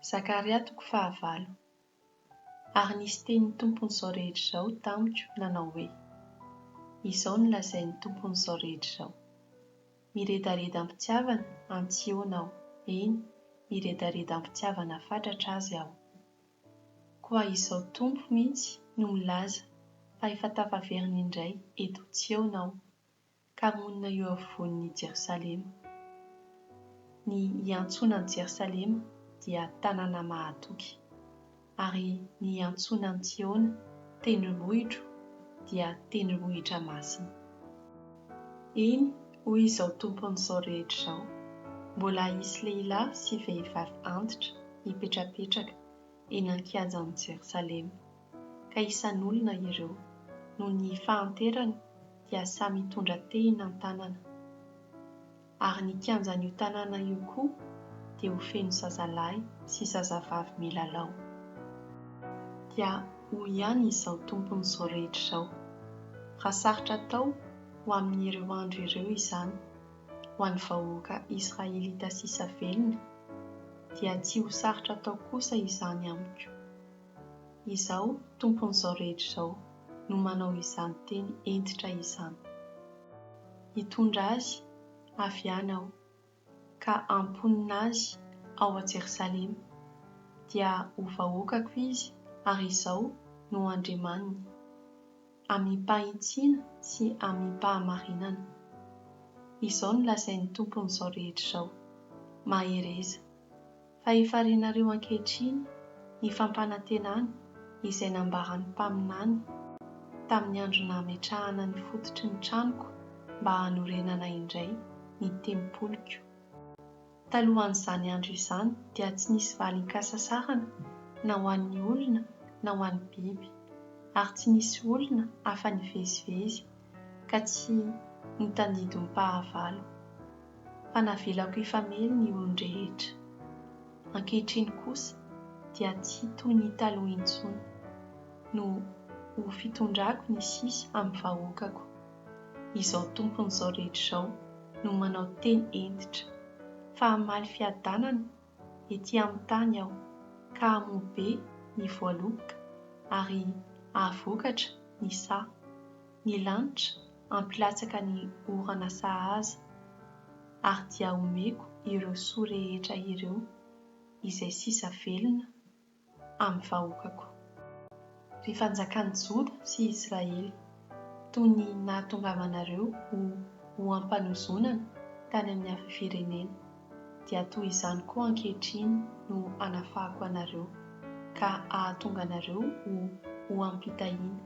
Zakaria toko fahavalo. Ary nisy tenin'ny Tompon'izao rehetra izao tamiko nanao hoe, Izao no lazain'ny Tompon'izao rehetra izao, Miredareda am-pitiavana an'i Tsiôna aho, eny, miredareda am-pitiavana fatratra azy aho. Koa izao Tompo mihitsy no milaza fa efa tafaverina indray eto Tsiôna aho, ka monina eo afovoan' i Jerosalema. Ny iantsoana an'i Jerosalema dia tanàna mahatoky, ary ny iantsoana an'i Tsiôna tendrombohitro dia tendrombohitra masina. Eny, hoy izao Tompon'izao rehetra izao, Mbola hisy lehilahy sy vehivavy antitra hipetrapetraka eny an-kianjan'i Jerosalema. ka isan'olona ireo, noho ny fahanterany dia samy hitondra tehina an-tanana. Ary ny kianjan'io tanàna io koa dia ho feno zazalahy sy zazavavy milalao. Dia hoy ihany Izaho Tompon'izao rehetra izao, Raha sarotra atao ho amin'ireo andro ireo izany ho an'ny vahoaka israelita sisa velona, dia tsy ho sarotra atao kosa izany amiko. Izaho, Tompon'izao rehetra izao, no manao izany teny hentitra izany. Hitondra azy avy any Aho, ka hamponina azy ao Jerosalema, dia ho vahoakako izy, ary Izaho no Andriamaniny. amim-pahitsiana sy amim-pahamarinana. Izao no lazain'ny Tompon'izao rehetra izao, Mahereza, fa efa renareo ankehitriny ny fampanantenana izay nambaran'ny mpaminany tamin'ny andro nametrahana ny fototry ny tranoko mba hanorenana indray ny tempoliko. Talohan'izany andro izany dia tsy nisy valin-kasasarana na ho an'ny olona na ho an'ny biby, ary tsy nisy olona afa-nivezivezy ka tsy notandindom-pahavalo, fa navelako hifamely ny olon-drehetra. Ankehitriny kosa dia tsy toy ny taloha intsony, noho ho fitondrako ny sisa amin'ny vahoakako. izao tompon'izao rehetra izao no manao teny hentitra, fa hamaly fiadanana ety amin'ny tany aho, ka hamoa be ny voaloboka, ary hahavokatra ny saha. Ny lanitra hampilatsaka ny orana sahaza, ary dia homeko ireo soa rehetra ireo izay sisa velona, amin'ny vahoakako. Ry fanjakan'i Joda sy Israely, toy ny nahatongavanareo ho ho am-panozonana tany amin'ny hafa firenena, dia toy izany koa ankehitriny no hanafahako anareo, ka hahatonga anareo ho ho am-pitahiana.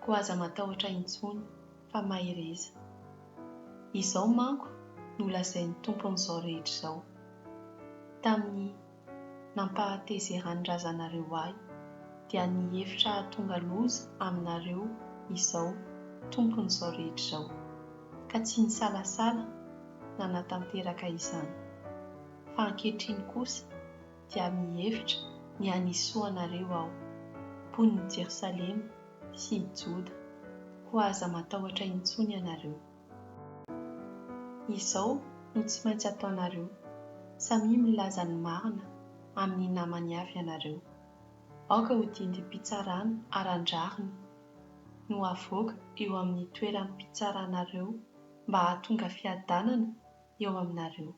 Koa aza matahotra intsony, fa mahereza. Izao manko no lazain'ny Tompon'izao rehetra izao, tamin'ny. nampahatezeran'ny razanareo ahy, dia ny hevitra hahatonga loza aminareo izao tompon'izao rehetra izao, ka tsy nisalasala nanatanteraka izany, fa ankehitriny kosa dia mihevitra ny hanisoa anareo aho, mponin'i Jerosalema sy i Joda, koa aza matahotra intsony ianareo. Izao no tsy maintsy ataonareo, samia milaza ny marina amin'ny namany avy ianareo. Aoka ho didim-pitsarana aran-drariny no havoaka eo amin'ny toeram-pitsaranareo mba hahatonga fiadanana eo aminareo.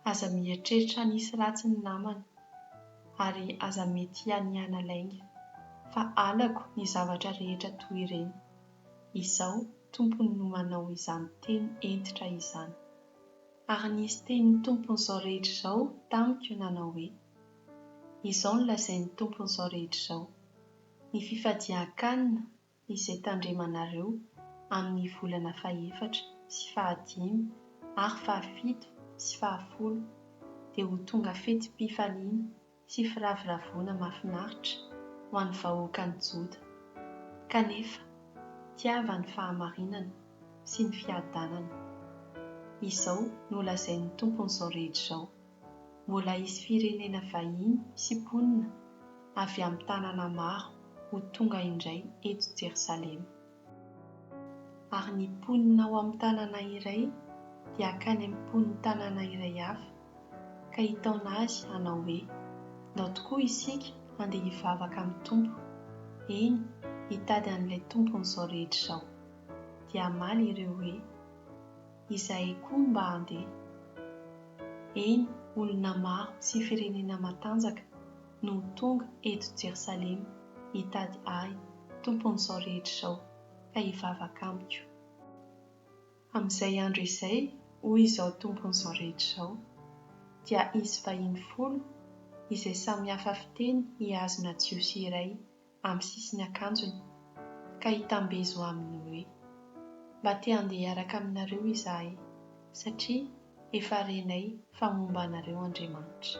Aza mieritreritra nisy ratsy ny namana ary aza mety hianiana lainga fa halako ny zavatra rehetra toy ireny. Izaho tompony no manao izany teny hentitra izany. Ary nisy tenin'ny tompon'izao rehetra izao tamiko nanao hoe, Izao no lazain'ny tompon'izao rehetra izao, Ny fifadian-kanina izay tandremanareo amin' ny volana fahefatra sy fahadimy ary fahafito sy fahafolo, dia ho tonga fetim-pifaliana sy firavoravoana mahafinaritra ho an' ny vahoakan' ny Joda, kanefa tiava ny fahamarinana sy ny fiadanana. Izao no lazain' ny Tompon' izao rehetra izao. mbola hisy firenena vahiny sy mponina avy amin'ny tanàna maro ho tonga indray eto Jerosalema. Ary ny mponina ao amin'ny tanàna iray dia hankany amin'ny mponin'ny tanàna iray hafa, ka hitaona azy hanao hoe, Ndao tokoa isika handeha hivavaka amin'ny Tompo, eny, hitady an'ilay Tompon'izao rehetra izao. Dia hamaly ireo hoe, izahay koa mba handeha. Eny, olona maro sy firenena matanjaka no ho tonga eto Jerosalema hitady Ahy, Tompon'izao rehetra izao, ka hivavaka amiko. Amin'izay andro izay, hoy Izaho Tompon'izao rehetra izao, dia hisy vahiny folo izay samy hafa fiteny hihazona Jiosy iray amin'ny sisin'ny akanjony, ka hitambezo aminy hoe, Mba te handeha hiaraka aminareo izahay, satria efa renay fa momba anareo Andriamanitra.